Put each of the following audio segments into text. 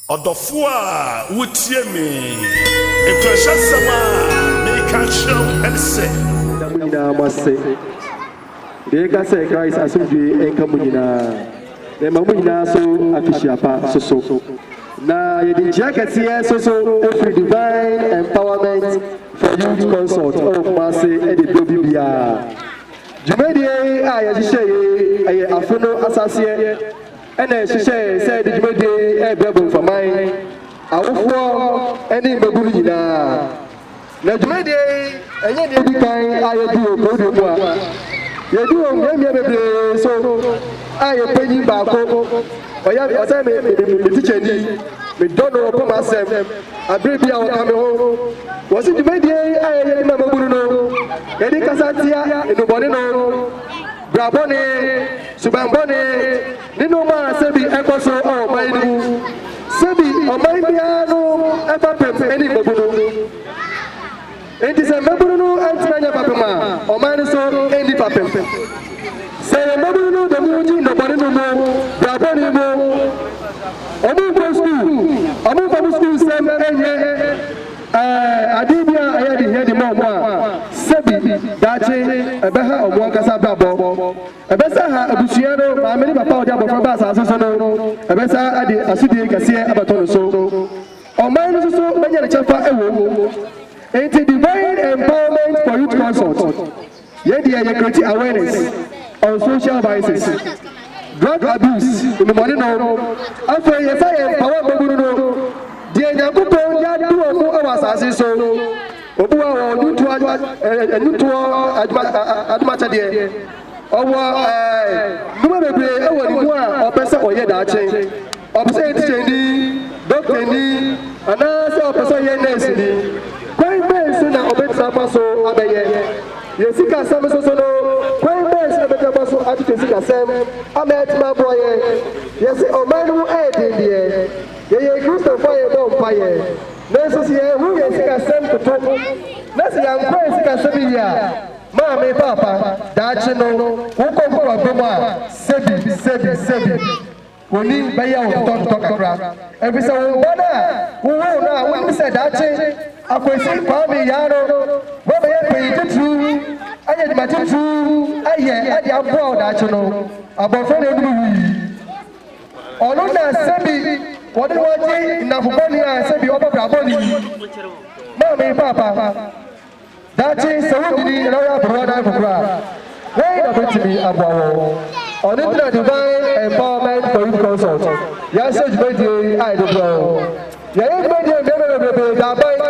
Ɔdɔfo a wutie me. Nkuranhyɛsɛm a meka kyerɛ wo ne sɛ. Da mo nyinaa mo ase. Deɛ yɛka sɛ Christ asomdwoe nka mo nyinaa. Mema mo nyinaa so afehyia pa soso. Na yɛde nkyia kɛseɛ nso so firi Divine Empowerment for Youth Consult wɔ Kumase de brɛ obi biara. Dwumadie a yɛhyehyɛeɛ yi yɛ Afono Asaseɛ. Ɛna yɛhyehyɛɛ sɛ yɛde dwumadie yi rebrɛ Bomfaman awofoɔ ne mmabunu nyinaa. Na dwumadie yi ɛnyɛ deɛ edi kan a yɛdi wɔ Korodwe mu a. Yɛdi wɔ mmeammea bebree nso a yɛn panyin baako, ɔyɛ ɔsɛ me me me me tikyani, medɔ no, ɔpɛ m'asɛm, abere bi a ɔka me ho. Wɔsi dwumadie yi a yɛyɛ de ma mmabunu no, yɛde kasa tia nnubɔne no. Bra bɔne, suban bɔne, ne nnoɔma a sɛbi ɛkɔ so wɔ ɔman no mu. Sɛbi ɔman biara no fapem ne mmabunu. Enti sɛ mmabunu no antumi anyɛ fapem a, ɔman no nso nni fapem. Sɛ yɛn mmabunu no de mu gye nnɔbɔne no mu, bra bɔne mu, wɔn nkɔ sukuu, wɔn mfa mo sukuu nsɛm nyɛ. Ɛɛ, ade bi a ɛyɛ den hia de ma wɔn a sɛbi daakye ɛbɛha wɔn ankasa abrabɔ. Ɛbɛsan aha abusua no maame ne papa a ɔde abofra ba asase so no, ɛbɛsan ade asodi kɛseɛ abɛto no so. Ɔman no nso so bɛnya ne kyɛfa wom. Enti Divine Empowerment for Youth Consult. Yɛn deɛ yɛ create awareness on social vices, drug abuse, nnubɔne nom. Afei yɛfa yɛn mpawa mmabunu no, deɛ Nyankopɔn de adom wɔn wɔ asase so, obi wɔ wɔ nnwontoɔ nnwontoɔ adomakyɛdeɛ, ɔwɔ nnwuma bebree wɔ ne mu a ɔpɛ sɛ ɔyɛ daakye. Ɔpɛ sɛ ɔyɛ tikyani, dɔktani, anaasɛ ɔpɛ sɛ ɔyɛ nɛɛseni. Kwan bɛn so na obetumi afa so abɛyɛ? Yɛn sikasɛm nso so no, kwan bɛn so na obetumi afa so atwetwe sikasɛm ama atumi aboa yɛn? Yɛse ɔman no ho ayɛ den deɛ, yɛyɛ Kristofo a yɛbɔ mpaeɛ. Nanso sɛ yɛanhu yɛn sikasɛm toto, na sɛ yɛankɔ yɛn sikasɛm yiye a, maame, paapa, daakye no, wokɔ nkokoa bam a, sɛbi, sɛbi, sɛbi. Wɔn ani bɛyɛ wo totɔtotɔ kakra, efisɛ wo ba no a wowoo no a wunim sɛ daakye akosi Kwame Yaano bɛbɛyɛ panyin titiriw, ayɛ adwuma titiriw, ayɛ ade aboa wo daakye no, abɔfra na onum wui. Ɔno na sɛbi wɔde no agye nnamfo bɔne a sɛbi ɔbɔ bra bɔne yi. Maame, Paapa. Daakye sɛ wodidi na woyɛ aberewa na akokoro a, wei na bɛtumi aboa wɔn. Ɔno nti na Divine Empowerment for Youth Consult yɛahyɛ dwumadie yi a yɛde brɛ wo. Yɛayɛ dwumadie mmeammea bebrebee da aban,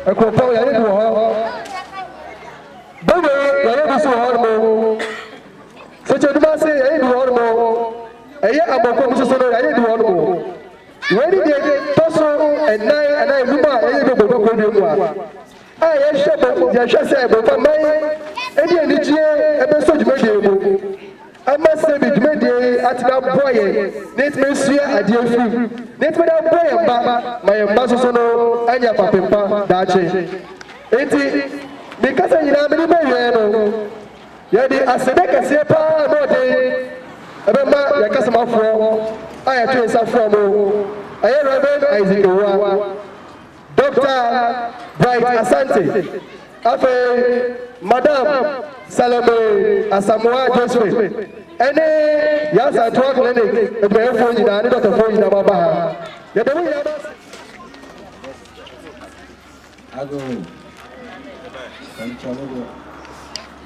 akuropɔn yɛayɛ bi wɔ hɔ, Benue yɛayɛ bi nso wɔ hɔnom, Sɛkyɛ Dumase yɛayɛ bi wɔ hɔnom, ɛyɛ Amokom nso so no yɛayɛ bi wɔ hɔnom. Wei ne deɛ tɔ so nnan anaa enum a yɛyɛ bi wɔ Borɔdɔɔ kurodua mu a. a yɛhyɛ bɔ yɛhwɛ sɛ ɛbɛma man de anigyeɛ bɛsɔ dwumadie mu ama sɛbi dwumadie yi atumi aboa yɛn na yɛtumi asua adeɛ afiri mu na yɛtumi de aboa yɛn mma ma yɛn mma soso no anya kwapempa daakye enti mekasa nyinaa mede bɛwiɛ no yɛde asɛdɛ kɛseɛ paa ma ɔden ɛbɛma yɛn kasomafoɔ a yɛto nsa foɔ mo ɛyɛ Reverend Isaac Owa Dɔkta Bright Asante, afei Madam Salome Asamoah Josephine, ne Yansantoa Clinic adwumayɛfoɔ nyinaa ne dɔktafoɔ nyinaa moaba ha. Yɛda mo nyinaa mo ase. Ago. Amen.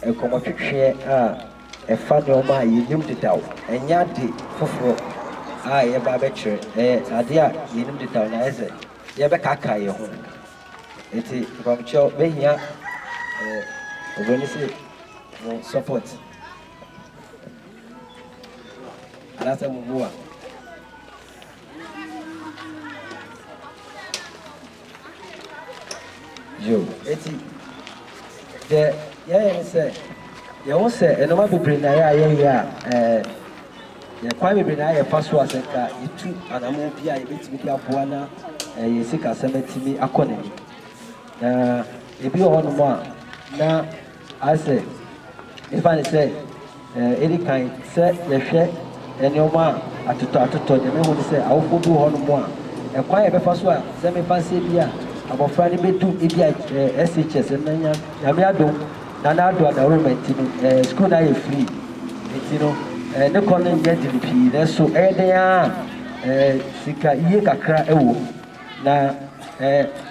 Nkɔmmɔtwetweɛ a ɛfa nneɛma a yɛnim dedaw, ɛnyɛ ade foforɔ a yɛreba abɛkyerɛ. Ɛyɛ adeɛ a yɛnim dedaw na ayɛ sɛ yɛrebɛkaakae yɛn ho. Enti nkɔmmɔtwetweɛ bɛhia oburoni sɛ mo support anaasɛ mo mmoa. Yiw, enti deɛ yɛyɛ ne sɛ yɛhu sɛ nnoɔma bebree na yɛ a yɛyɛ a ɛɛ kwan bebree na yɛfa so a sɛ nka yɛtu anammɔn bi a yɛbɛtumi de aboa na yɛn sikasɛm atumi akɔ n'anim. Na ebi wɔ hɔnom a na Asɛ, esiane sɛ edi kan sɛ yɛhwɛ nneɛma a atotɔ atotɔ de, mahu sɛ awofo bi wɔ hɔnom a, ɛkwan a yɛbɛfa so a, sɛ me mfase bi a, abofra no bedu ebia SHS, ɛnnɛ nya, Nyame adom na n'ado adaworoma nti no, sukuu no ayɛ free, nti no, ne kɔ no nyɛ den pii, nanso ɛyɛ den ara a, sika yie kakra wom. Na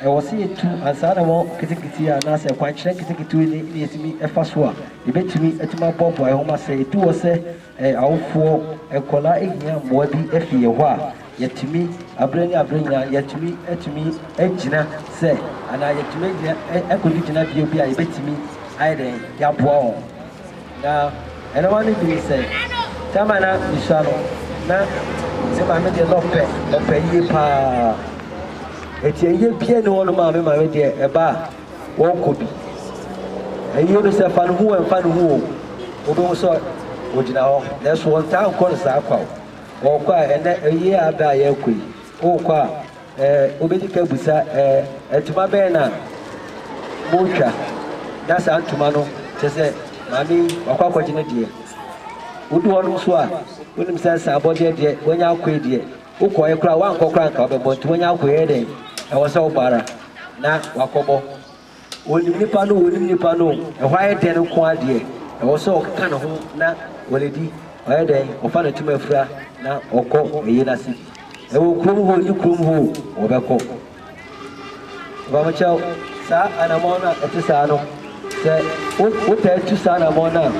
ɛwɔ sɛ yɛtu ansa na wɔ ketekete a anaasɛ ɛkwankyerɛ nketekete ne ne yɛtumi fa so a yɛbɛtumi atumi aboaboa yɛn ho ma sɛ ɛdu hɔ sɛ awofoɔ nkwadaa ɛhia mmoa bi ɛfi yɛn hɔ a yɛtumi aberɛ ne aberɛ nyinaa yɛtumi atumi agyina sɛ anaa yɛtumi agyina ɛkɔdu gyina bia bi a yɛbɛtumi ayɛ dɛn yɛaboa wɔn. Na ɛno ma me hui sɛ time a na me sua no na me maame deɛ na ɔpɛ ɔpɛ yie paa ɛti ɛyɛ bia ni hɔ no ma me maame deɛ ɛba a wɔnkɔ bi ɛyie no sɛ fa no hu ɛmfa no hu o wobɛhu sɛ ɔgyina hɔ na ɛso wɔntaa nkɔ no saa kwa o wɔkɔ a ɛnɛ ɛyie a abɛ a yɛkɔ yi wokɔ a Ɛɛ, wobɛdi ka abisa, ɛɛ, ntoma bɛn na moretwa? Na saa ntoma no, kyerɛ sɛ maame yi, wakɔ akɔgye ne deɛ. Wodu hɔ nom nso a, wonim sɛ saa abɔdeɛ deɛ, wanya akoe deɛ, wokɔeɛ koraa a, woankɔ koraa a, anka wobɛbɔ. Nti wanya akoe, ɛyɛ dɛn? Ɛwɔ sɛ wobɔ ara na wakɔbɔ. Wɔnim nnipa no, wɔnim nnipa no o, ɛhɔ ayɛ dɛn nko ara deɛ, ɛwɔ sɛ ɔkeka ne ho na ɔde di, ɔyɛ dɛn, ɔfa ne ntoma fira na ɔkɔ ɛyei no ase di. Ɛwɔ kurom hɔ o, ɛnni kurom hɔ o, wɔbɛkɔ. Mpamokyɛw, saa anamɔn no a ɛte saa no, sɛ wo, wotaa tu saa anamɔn no a,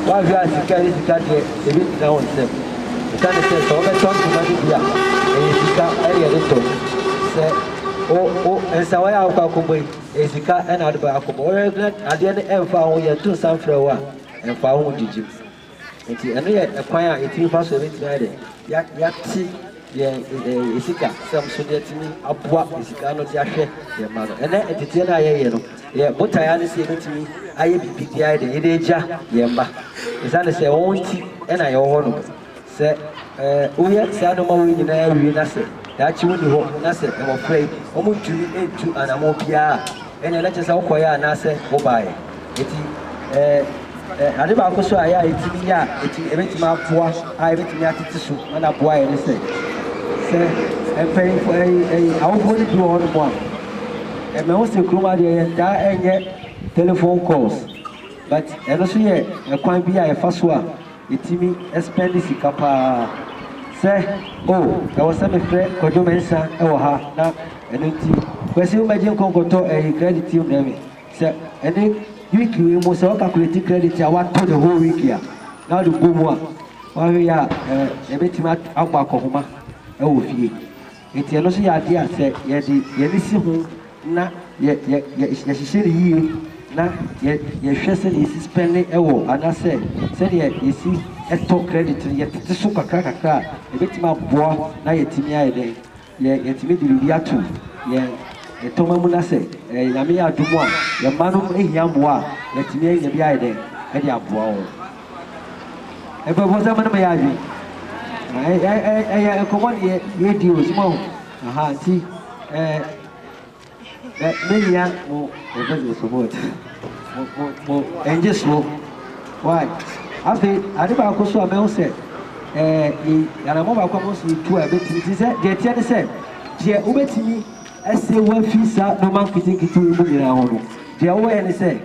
woahwɛ a sika ɛyɛ sika deɛ, ebi ntena wo nsam. Ɛsiane sɛ, sɛ wobɛtɔ ntoma no bi a, ɛyɛ sika ɛne yɛde tɔ. Sɛ. Wo wo nsawaa yi a wokɔ akɔbɔ yi, ɛyɛ sika na wode bɛ akɔbɔ. Wohwɛ na adeɛ no ɛmfa wo ho, yɛto nsa mfrɛ wo a, ɛmfa wo ho gyigyi. Nti ɛno yɛ ɛkwan a yɛtumi fa so yɛbɛtumi ayɛ dɛ, yɛ yɛate yɛn ɛɛ sika sɛm so de atumi aboa sika ano de ahwɛ yɛn mma no. Ɛnɛ nteteɛ no a yɛyɛ no, yɛ botaeɛ ara ne sɛ yɛbɛtumi ayɛ biribi de ayɛ dɛ, yɛde agya yɛn mma. Ɛsiane sɛ wɔn nti na yɛwɔ hɔ nom. Sɛ woyɛ saa nnoɔma wei nyinaa wie na sɛ daakye wonni hɔ na sɛ mmɔfra yi wɔntumi ntu anammɔn biara a, ɛnneɛ na kyerɛ sɛ wokɔeɛ anaasɛ wobaeɛ. Enti ade baako nso a ɛyɛ a ɛtumi yɛ a ɛtumi ɛbɛtumi aboa a ɛbɛtumi atete so na na aboa yɛ ne sɛ sɛ mpanyinfoɔ ɛyi ɛyi awofoɔ no bi wɔ hɔnom a ɛmɛ ho sɛ kurom adeɛ yɛn taa ɛnyɛ telephone calls but ɛno nso yɛ ɛkwan bi a yɛfa so a Yɛtumi spend sika paa sɛ oh ɛwɔ sɛ me frɛ Kwadwo Mensa wɔ ha na ɛno nti Kwasi wo mɛgye nkɔ nkɔtɔ ɛyi credit yi mbrɛ me sɛ ɛne week wei mu sɛ wo calculate credit a watɔ the whole week a na wode bɔ mu a woahwɛ yie a ɛɛ yɛbɛtumi abɔ akɔhoma wɔ fie Enti ɛno nso yɛ adeɛ a sɛ yɛde yɛn ani si ho na yɛ yɛ yɛhyehyɛ no yie na yɛ yɛhwɛ sɛdeɛ yɛsi spɛnde wɔ anaasɛ sɛdeɛ yɛsi tɔ credit no yɛtete so kakra kakra a ɛbɛtumi aboa na yɛatumi ayɛ dɛn yɛ yɛatumi de biribi ato yɛn tɔma mu na sɛ ɛyɛ Nyame adom a yɛn mma nom hia mmoa a yɛatumi anya bi ayɛ dɛn de aboa wɔn. Mpanimfoɔ sɛ mo ne mo yɛ adwene. Ɛyɛ nkɔmmɔ ne yɛredi o, soma o. Aha nti mɛhia mo yɛfrɛ sɛ support. Mo mo ɛngye soɔ. Why? Afei ade baako so a mɛhu sɛ yɛ anamɔ baako a mo nso yɛtu a ɛbɛtumi nti sɛ deɛ ɛteɛ ne sɛ deɛ wobɛtumi ɛsɛ wafi saa nnoɔma nketenkete yi mu nyinaa ho no deɛ wowɛɛ ne sɛ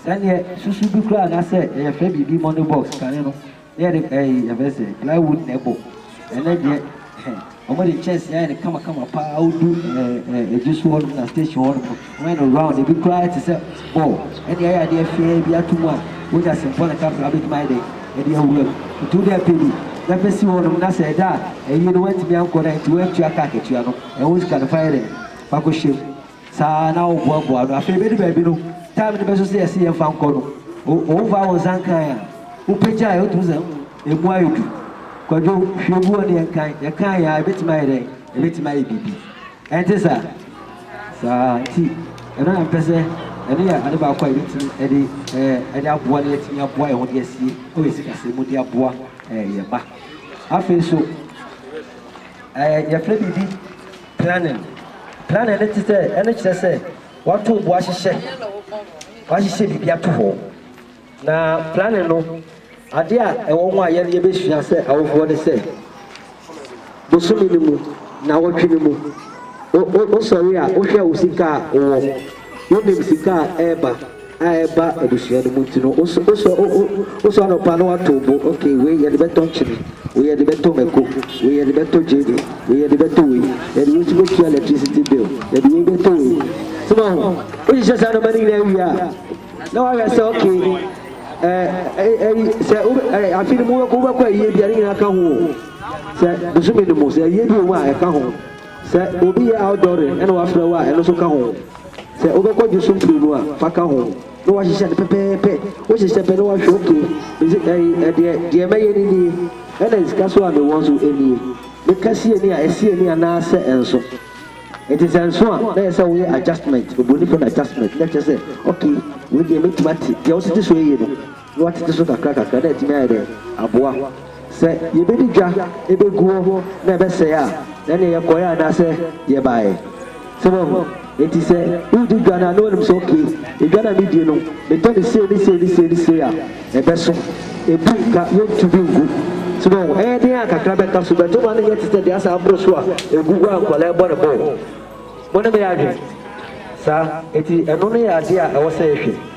Sɛ neɛ susu bi koraa na sɛ yɛ fɛ biribi money box kane no na yɛde ɛyi yɛfɛ sɛ ply wood na ɛbɔ ɛnɛ deɛ hɛn wɔn de nkyɛnsee ayɛ no kama kama paa wodu ɛɛ ɛɛ ɛgye so hɔ nom na station hɔ nom no wɔn ayɛ no round ebi koraa te sɛ ball ɛne ayɛ adeɛ fɛɛ bi ato mu a wonya sempɔ ne kakra wobɛtumi ayɛ dɛn ɛde awura mu nti wode apɛ bi na bɛ si hɔ nom na sɛ ɛda a ɛyi no wantumi ankɔ na nti wantua car katua no ɛho sika no fa yɛ dɛn fa kɔ hyɛ mu. Saa ara na woboaboa ano. Afei ebedu baabi no, time no bɛso sɛ yɛse yɛmfa nkɔ no, wofaa wo nsa nkae a, wopagyae a, wotumi sɛ, mm, emu ayɛ duru. Kwadwo, hwɛ gu hɔ ne yɛnkae. Yɛkae a, ebetumi ayɛ dɛn? Ebetumi ayɛ biribi. Ɛnte saa? Saa ara nti, ɛno na mepɛ sɛ, ɛno yɛ ade baako a yebetumi de, ɛɛ, de aboa na yɛatumi aboa yɛn ho de asie wɔ sikasɛm mu de aboa, ɛɛ, yɛn mma. Afei nso, ɛɛ, yɛfrɛ biribi Planning, Planning no te sɛ, ɛno kyerɛ sɛ wɔatow bo ahyehyɛ, wɔahyehyɛ biribi ato hɔ. Na planning no, ade a ɛwɔ ho a yɛn yɛbɛsua sɛ awofoɔ ne sɛ, bosome no mu, nnawɔtwe no mu, wo, wo, wosɔre a, wohwɛ wo sika a wowɔ, wonim sika a ɛreba. a ɛba abusua no mu nti no wosɔ wosɔ wosɔ anɔpa no wato wo bo ok wei yɛde bɛtɔ nkyene wei yɛde bɛtɔ mako wei yɛde bɛtɔ gyeene wei yɛde bɛtɔ wei yɛde wei nso bɛtua electricity bill yɛde wei bɛtɔ wei soma ho wohyehyɛ saa nɔma no nyinaa wie a na wahwɛ sɛ ok ɛyi sɛ afe no mu wobɛkɔ ayie bia ne nyinaa ka ho sɛ bosome no mu sɛ ayie bi wɔ mu a ɛka ho Sɛ obi yɛ outdooring na wafrɛ wo a, ɛno nso ka ho. Sɛ wobɛkɔ gye so mprenu a, fa ka ho na woahyehyɛ no pɛpɛɛpɛ. Wohyehyɛ pɛ na woahwɛ okay, mese ɛyi ɛdeɛ, deɛ mɛyɛ no nie, ɛna sika so a mewɔ nso nie. Meka si ani a, ɛsi ani anaa sɛ ɛnso. Enti sɛ ɛnso a, na ɛyɛ sɛ woyɛ adjustment, oburoni frɛ no adjustment, na kyerɛ sɛ okay, wei deɛ mɛtumi ate, deɛ wosete so yɛ no. na wɔatete so kakrakakra na atumi ayɛ dɛn aboa. Sɛ yɛbɛdi dwa bɛgu hɔ na ɛbɛsɛe a, ɛnneɛ yɛkɔeɛ anaasɛ yɛbaeɛ. Sɛ moahu? Enti sɛ woredi dwa no a na wonim sɛ okay, edwa no a medi no, metɔ no sei ne sei ne sei ne sei a, ɛbɛso. Ɛbu nka, yɛntu bi ngu. So moahu? Ɛyɛ den a, kakra bɛka so, but woma no nyɛ te sɛ deɛ asɛ aboro so a ɛgu hɔ a nkwadaa rebɔ no bɔɔl. Mo ne me yɛ adwene? Saa. Enti ɛno no yɛ adeɛ a ɛwɔ sɛ yɛhwɛ.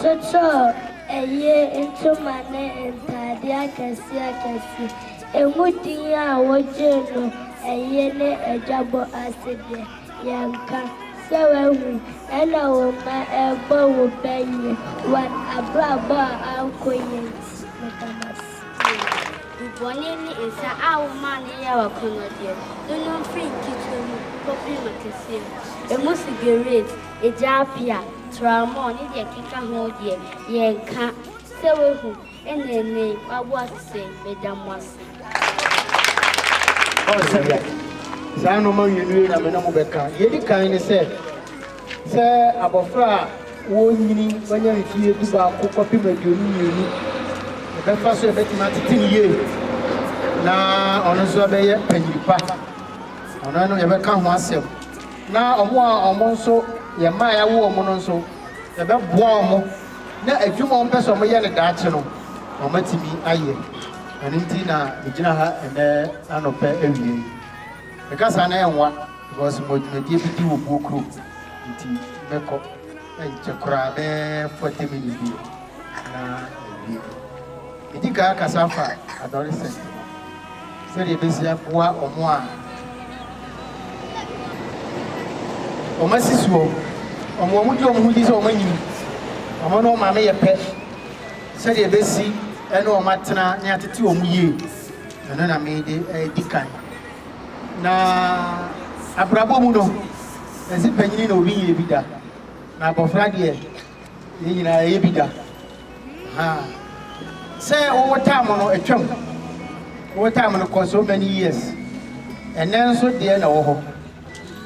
Kyekyer ɛyee ntoma ne ntaade akɛse akɛse. Emu din a wogyee no ɛyee ne adwabɔ ase deɛ, yɛnka. Sɛ woahu, ɛna wo mma ɛrebɔ wo bɛ yie, wɔn abrabɔ a ankɔ yie nti. Meda mo ase. Bu bɔne ne nsa a womaa no yɛɛ w'akɔnnɔdeɛ no no mfiri nketewa mu kɔpem akɛseɛ mu. Emu sigeret, Agya Appiah, Tramore ne deɛ ɛkeka ho deɛ yɛn nka sɛ wahu ɛna ɛnnɛ yi w'abo ase sɛn, meda mo ase. Saa nnoɔma mmienu yi na me ne mo bɛka. Deɛ ɛdi kan ne sɛ, sɛ abɔfra a ɔrenyini wanya mfeɛ dubaako kɔpem aduonu mmienu, yɛbɛfa so yɛbɛtumi atete no yie na ɔno nso abɛyɛ panyin pa. Ɔno no yɛbɛka ho asɛm. Na wɔn a wɔn nso yɛ mma a yɛawo wɔn no nso, yɛbɛboa wɔn na adwuma a wɔpɛ sɛ wɔyɛ no daakye no, wɔatumi ayɛ. Ɛno nti na megyina ha ɛnnɛ anɔpa awia yi. Meka saa na ɛnwa because mewɔ dwumadie bi di wɔ Buo kurom nti mɛkɔ ɛnkyɛ koraa bɛyɛ forty minutes deɛ na mawie. Di kan kasa fa adolescent ho, sɛdeɛ ɛbɛsi aboa wɔn a wɔn asi soɔ, wɔn a wɔgye wɔn ho di sɛ wɔn anyini, wɔn ne wɔn maame yɛ pɛ, sɛdeɛ ɛbɛsi ɛne wɔn atena ne atete wɔn yie, ɛno na mede ɛredi kan. Na abrabɔ mu no, ɛse panyini na obi nyɛ bi da, na abɔfra deɛ yɛn nyinaa yɛyɛ bi da. Ha! Sɛ wowo time no atwam. Wowo time no kɔ so many years. Ɛnnɛ nso deɛ na ɛwɔ hɔ.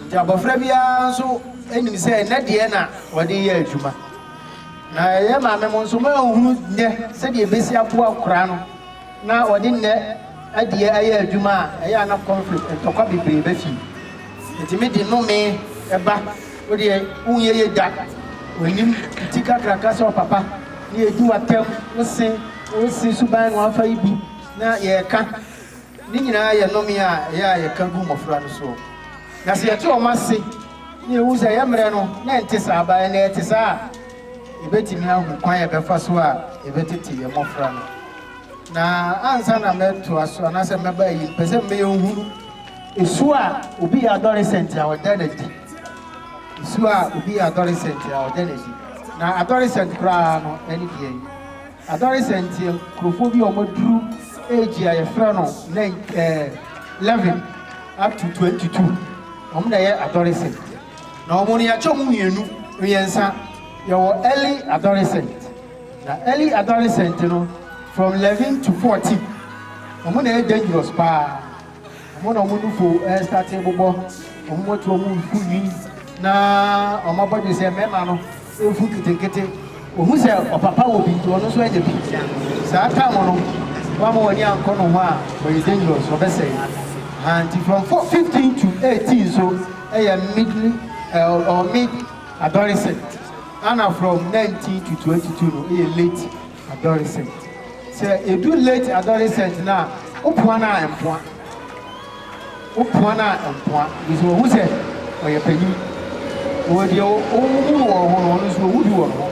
Nti abɔfra biara nso nim sɛ ɛnnɛ deɛ na wɔde yɛ adwuma. Na yɛn maame mo nso moanhunu nnɛ sɛdeɛ ɛbɛsi aboa akwadaa no. na wɔde nnɛ adie ayɛ adwuma a, ɛyɛ a na conflict, ntɔkwa bebree ba fie. Nti me de nnome ba, wo deɛ wonyɛ yie da, onim ti kakraka sɛ ɔpapa, na yɛdi w'atam, wo se, wo se suban na wɔafa yi bi, na yɛreka. Ne nyinaa yɛ nnome a ɛyɛ a yɛka gu mmɔfra no soɔ. Na sɛ yɛte wɔn ase, na yɛhu sɛ yɛn mmerɛ no na ɛnte saa, but ɛnnɛ ɛte saa a, yɛbɛtumi ahu kwan a yɛbɛfa so a yɛbɛtete yɛn mmɔfra no. Na ansa na mɛtoa so anaasɛ mɛba ayi, mepɛ sɛ mmea nhunu su a obi yɛ adolescent a ɔda no adi. Su a obi yɛ adolescent a ɔda no adi. Na adolescent koraa no, ɛne deɛ yi. Adolescent yɛ nkurɔfoɔ bi a wɔaduru age a yɛfrɛ no eleven up to twenty two. Wɔn na ɛyɛ adolescent. Na wɔn no yɛakyɛ wɔn mmienu mmiɛnsa. Yɛwɔ early adolescent. Na early adolescent no from eleven to fourteen ɔmo na ɛyɛ dangerous paa ɔmo na ɔmo nufo ɛstart bobɔ ɔmo moto ɔmo ku nwi na ɔmo abɔdwe sɛ mɛma no efu nketenkete ohu sɛ ɔpapa wɔ bi nti ɔno nso anya bi saa time no wama wɔne ankɔ no ho a ɔyɛ dangerous ɔbɛsɛe ha nti from four fifteen to eighteen so ɛyɛ mid or mid adolescent Ana from nineteen to twenty two no yɛ late adolescent sɛ edu late adolescent no a wo poa no a mpoa wo poa no a mpoa because wɔhu sɛ ɔyɛ panyin wɔ deɛ wohu no wɔ ho no ɔno nso ohu bi wɔ ne ho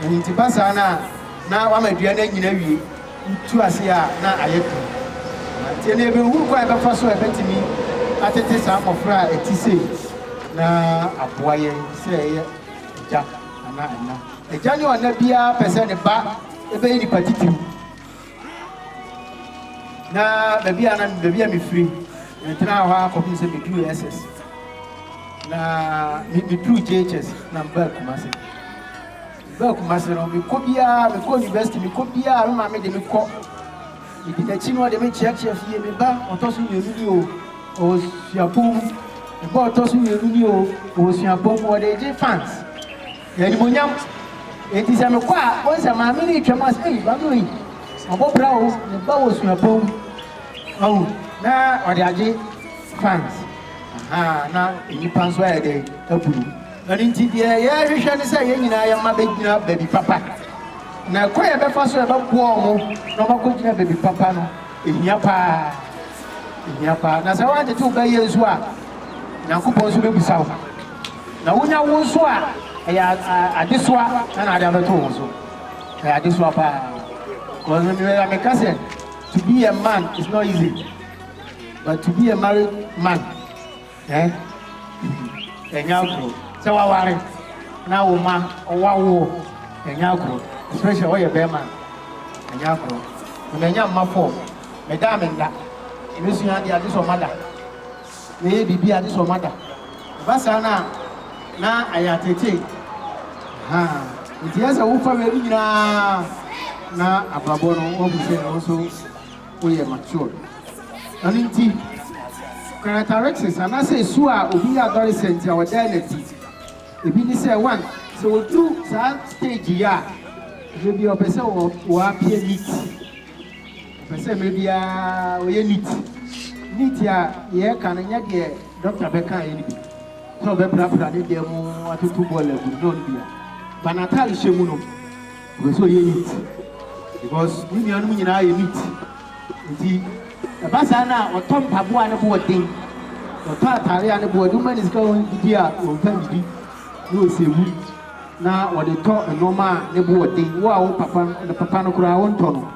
ɛno nti ba saa no a na wama dua no anyina awie Wotu ase a, na ayɛ den. Na tie na yebehu kwan a yɛbɛfa so a yebetumi atete saa mmofra a ɛte sei na aboa yɛn sɛ yɛyɛ agya anaa ɛna. Agya ne ɔna biara pɛ sɛ ne ba bɛyɛ nipa titiriw. Na baabi a na baabi a mefiri, metenaa hɔ ara kɔpem sɛ meduu SS. Na meduu JHS na mebaa Kumase. Bɛɛ Kumasi no me kɔ biaa me kɔ university me kɔ biaa me maame de me kɔ me di nakyi na ɔde me kyea kyea fie me ba ɔtɔ so mienu ni oo ɔwɔ suapɔn mu me ba ɔtɔ so mienu ni oo ɔwɔ suapɔn mu ɔde gye fans animonyam enti sɛ me kɔ a wɔn sɛ maame no retwam ase ei maame oyi ɔbɔ bra oo me ba wɔ suapɔn mu ɔwɔ na ɔde agye fans ahaa na nnipa nso ayɛ dɛ abu no. Ɛno nti, deɛ yɛrehwehwɛ ne sɛ yɛn nyinaa yɛn mma bɛgyina baabi papa. Na ɛkwan a yɛbɛfa so a yɛbɛboa wɔn na wɔakɔgyina baabi papa no, ɛhia pa ara. Ɛhia pa ara. Na sɛ woantete wo ba yie nso a, Onyankopɔn nso bɛbisa wo. Na wonya wo nso a, ɛyɛ adesoa na na ade abɛto wo so. Ɛyɛ adesoa pa ara. Because me mewɛya meka sɛ, to be a man is not easy, but to be a married man Ɛɛ? Ɛnyɛ agorɔ. Sɛ w'aware na wo mma w'awoɔ, ɛnyɛ agorɔ. Especially ɔyɛ bɛɛma a, ɛnyɛ agorɔ. Me manya mma four, me da a me nna. Me sua adeɛ a gye sɛ ɔma da. Me yɛ biribi a gye sɛ ɔma da. Ɛba saa no a, na ayɛ ateetee. Ahaa. Nti ɛyɛ sɛ wo fa wei no nyinaa na abrabɔ no, woahu sɛ ɛno nso woyɛ matured. Ɛno nti, characteristics anaasɛ su a obi yɛ adolescent a ɔda no adi. Ebi ne sɛ, one, sɛ odu saa stage yi a, mmerɛ biara ɔpɛ sɛ ɔ appear neat. Ɔpɛ sɛ mmerɛ biara ɔyɛ neat. Neat a yɛreka no nyɛ deɛ doctor bɛkaeɛ no bi sɛ ɔbɛprapra ne dan mu atoto bɔɔlo agu no, no no bi a, but n'atarehyɛ mu no, Ɔpɛ sɛ ɔyɛ neat because ne nuanom nyinaa yɛ neat nti ɛba saa no a ɔtɔ mpaboa a ne bo yɛ den, ɔtɔ atare a ne bo yɛ den. Woma no sika a ɔndidi a ɔmfa nnidi na ɔsɛ wu na ɔde tɔ nnoɔma a ne bo yɛ den. Wo a wo papa, ne papa no koraa wontɔ no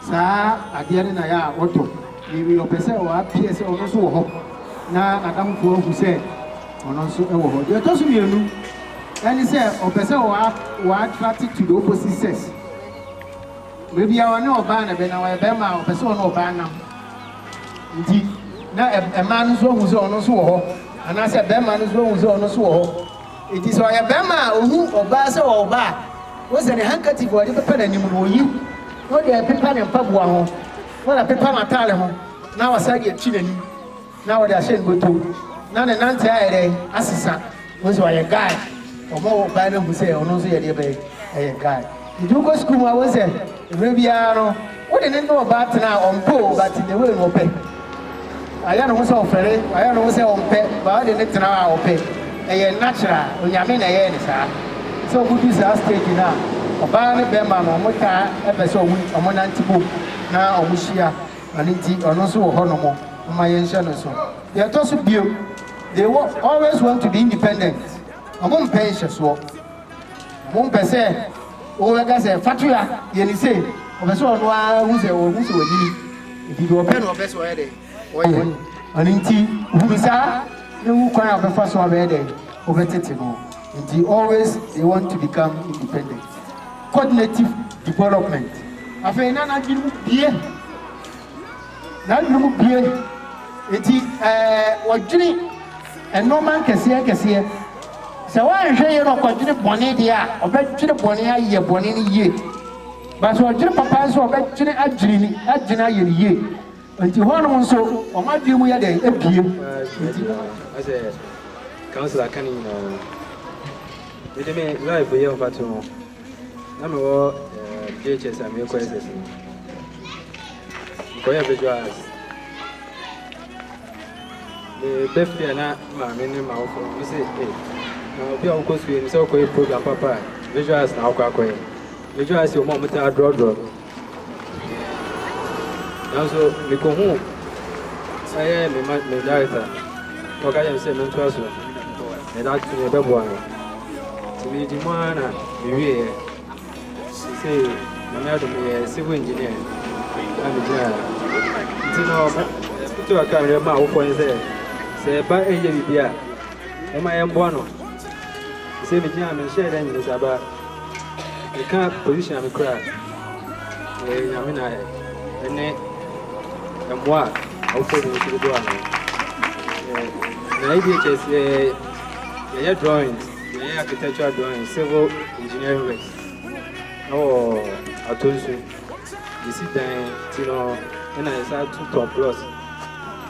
saa adeɛ no na ɛyɛ a ɔtɔ. Mary ɔpɛ sɛ ɔapeɛ sɛ ɔno nso wɔ hɔ na n'adamfo ahu sɛ ɔno nso wɔ hɔ. Deɛ ɔtɔ so mmienu ne sɛ ɔpɛ sɛ ɔa ɔattract to the opposite sex. Mmerɛ biara ɔne ɔbaa na ɛbɛ na ɔyɛ bɛɛma a ɔpɛ sɛ ɔne ɔbaa nam nti na ɛmaa no nso ahu sɛ ɔno nso wɔ hɔ anaa sɛ bɛɛma no nso ahu sɛ ɔno nso wɔ hɔ. Nti sɛ ɔyɛ bɛɛma a ɔhu ɔbaa sɛ ɔwɔ hɔ a, wohu sɛ ne handkerchief a ɔde pepa n'anim no ɔyi na ɔde ɛpepa ne mpaboa ho. Na wapepa n'atade ho, na wasan de akyi n'anim, na ɔde ahyɛ ne bɔtɔ mu, na ne nante ayɛ dɛ asesa. Wohu sɛ ɔyɛ guy. Wɔn a wɔbae no ahu sɛ ɔno nso yɛ deɛ bɛn? Ɛyɛ guy. Nti wokɔ sukuu mu a, wohu sɛ mmerɛ biara no, wode ne ne ɔbaa tena a, ɔmpɛ o, but in a way no ɔpɛ. Ayɛ ne ho sɛ ɔfɛre, ayɛ ne ho sɛ ɔmpɛ, but ɔde ne tena hɔ a ɔpɛ, ɛyɛ natural, Onyame na ɛyɛɛ no saa. Sɛ ɔmo du saa stage no a, ɔbaa ne bɛɛma no ɔmo taa ɛpɛ sɛ ɔmo ɔmo nante bom na ɔmo hyia, ɔno nti ɔno nso wɔ hɔ nom, momma yɛn hyɛ no nso. Deɛ ɛtɔ so biom, they wo always want to be independent, ɔmo mpɛ nhyɛsoɔ. Wompɛ sɛ wobɛka sɛ Fatua yɛ ne sei. Ɔpɛ sɛ ɔno ara hu sɛ wahu sɛ wanyini. Nti deɛ ɔpɛ na ɔpɛ sɛ ɔyɛ dɛn? Ɔyɛ. Ɛno nti hunu saa na hu kwan a wobɛfa so abɛyɛ dɛn? Wobɛtete no. Nti always they want to become independent. Cognitive development. Afei na n'adwene mu bue. N'adwenem bue, enti ɔdwene nnoɔma nkɛseɛ nkɛseɛ. Sɛ wanhwɛ yie na ɔkɔdwene bɔne deɛ a, ɔbɛdwene bɔne ayɛ bɔne no yie. But sɛ ɔdwene papa nso a, ɔbɛdwene adwene adwene ayɛ no yie. Enti hɔnom nso, wɔn adwene mu yɛ dɛn? Ebue. Enti mo ma. Asɛ council aka ne nyinaa. Mede me life yɛ mfatoho. Na me wɔ JHS a mekɔ SS no. Mekɔyɛ visual arts. Meba fie a na maame ne m'awofo no sɛ ee na obi a wokɔ sukuu no sɛ wokɔyɛ program papa a visual arts na wokɔ akɔyɛ. Visual arts yɛ wɔn a wɔtaa drɔdrɔ no. Nanso mikohuu ɛyɛ me ma me director na ɔka kyerɛ me sɛ mentoa so na ɛda so yɛ bɛboa me nti medi mu ara na mewieɛ sɛ nyame adom yɛ civil engineer na megyina nti no ɛto aka mmerɛ ma awofoɔ ne sɛ sɛ ɛba ɛyɛ biribi a moma yɛmboa no sɛ megyina menhyɛɛ dɛ nyene saa ba Meka position a me kura yɛ nyame na ayɛ ɛne mmoa a ɔfɔ bi nso dodo ano na ADHS yɛ yɛyɛ drawings yɛyɛ architectural drawings civil engineering works ɛwɔ ato nso yɛsi dan ti no ɛna yɛsa to top floors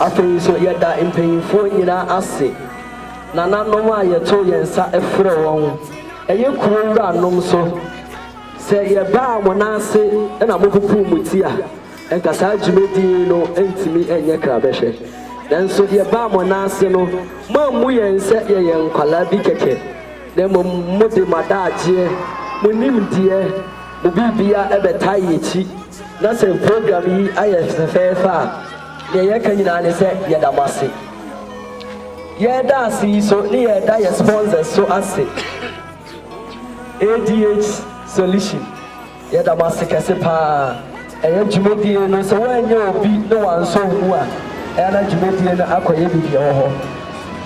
Afei nso, yɛda mpanimfoɔ nyinaa ase, nananom a yɛto yɛn nsa frɛ wɔn, ɛyɛ kuro wuranom nso. Sɛ yɛbaa mo nan ase na mopopoo mo ti a, anka saa dwumadi yi no ntumi nyɛ krabɛhwɛ. Nanso yɛbaa mo nan ase no, moammu yɛn sɛ yɛyɛ nkwadaa bi kɛkɛ, na mmom mode mo adagyeɛ, mo nimdeɛ, mo biribiara bɛtaa yɛn akyi. Na sɛ program yi ayɛ fɛfɛɛfɛ a, nea yɛka nyinaa ne sɛ yɛda mo ase. Yɛda ase yi so ne yɛda yɛ sponsors so ase. ADH Solution, yɛda mo ase kɛse paa. Ɛyɛ dwumadie no, sɛ woanyɛ obi na wansɔ wo mu a, ɛyɛ na dwumadie no akɔyɛ biribi wɔ hɔ.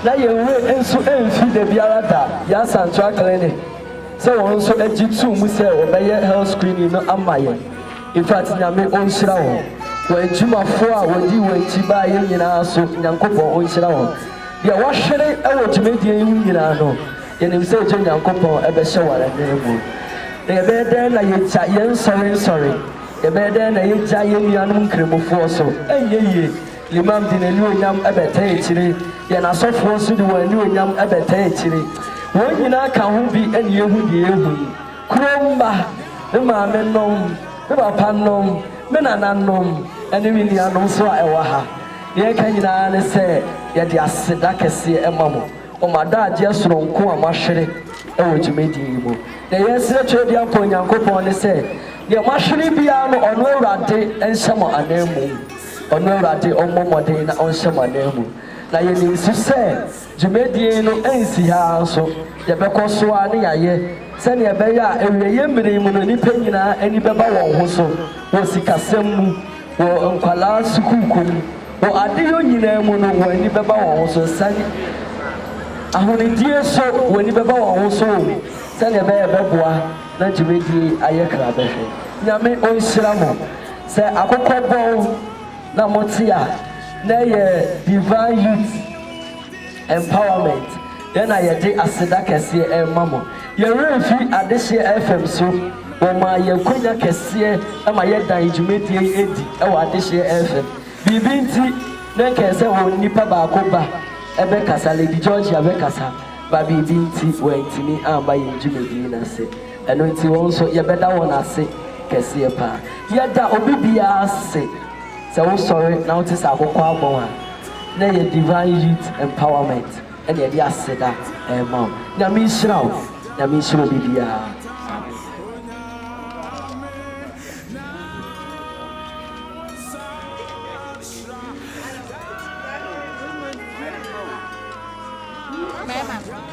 Na yɛn werɛ nso mfi da biara da yɛn Asantra Clinic. sɛ wɔn nso agye too mu sɛ wɔbɛyɛ health screening no ama yɛn. Infact Nyame onhyira wɔn, wɔn adwumafoɔ a wɔdii wɔn akyi baeɛ nyinaa so Nyankopɔn onhyira wɔn. Deɛ wahwere wɔ dwumadie yi ho nyinaa no, yɛnim sɛ egye Nyankopɔn bɛhyɛ wɔn adwene mu. Na yɛbɛyɛ dɛn na yɛagya yɛn nsɔrensɔre? Yɛbɛyɛ dɛn na yɛagya yɛn nuanom nkramofoɔ so? Ɛnyɛ yie. Imam de n'anuonyam bɛtaa akyire, yɛn asɔfoɔ nso de wɔn anuonyam bɛtaa akyire. Wɔn nyinaa ka ho bi na yɛhu deɛ yɛhu yi, Kuro mma, me maamenom, me papanom, me nananom, ne me nuanom nso a ɛwɔ ha, deɛ ɛka nyinaa ne sɛ yɛde aseda kɛseɛ ma mo wɔ mo adagyeɛ sononko a moahwere wɔ dwumadie yi mu. Deɛ yɛresrɛ Twerɛdua Mpa Onyankopɔn ne sɛ, deɛ moahwere biara no, ɔno Awurade nhyɛ mo ananmu. Ɔno Awurade ɔmmɔ mmɔden na ɔnhyɛ mo ananmu. Na yɛnim nso sɛ dwumadie no ansi ha ara nso, yɛbɛkɔ so ara ne yɛayɛ sɛdeɛ ɛbɛyɛ a awieeɛ mmerɛ mu no nnipa nyinaa ani bɛba wɔn ho so wɔ sikasɛm mu, wɔ nkwadaa sukuukɔ mu, wɔ adeyɔ nyinaa mu no wɔn ani bɛba wɔn ho so. Sɛdeɛ ahonidie nso wɔn ani bɛba wɔn ho so wɔ mu sɛdeɛ ɛbɛyɛ a ɛbɛboa na dwumadie yi ayɛ krabɛhwɛ. Nyame ɔnhyira mo. Sɛ akokɔ bɔn na mo te a na ɛyɛ Divine Youth Empowerment yɛ na yɛde aseda kɛseɛ ɛrema mo. Yɛn werɛ mfi adehyeɛ FM so, wɔmaa yɛn akwanya kɛseɛ ma yɛdan dwumadie yi adi wɔ adehyeɛ FM. Biribi nti na nka ɛsɛ wɔn nnipa baako ba bɛkasa, Lady Georgia bɛkasa, ba biribi nti wantumi amma yɛn dwumadie no ase. Ɛno nti wɔn nso yɛbɛda wɔn ase kɛseɛ paa. Yɛda obi biara ase sɛ wosɔre na wote sɛ akokɔ abɔn a, na ɛyɛ Divine Youth Empowerment na yɛde aseda rema wo. Nyame nhyira wo. Nyame nhyira obi biara. Amen.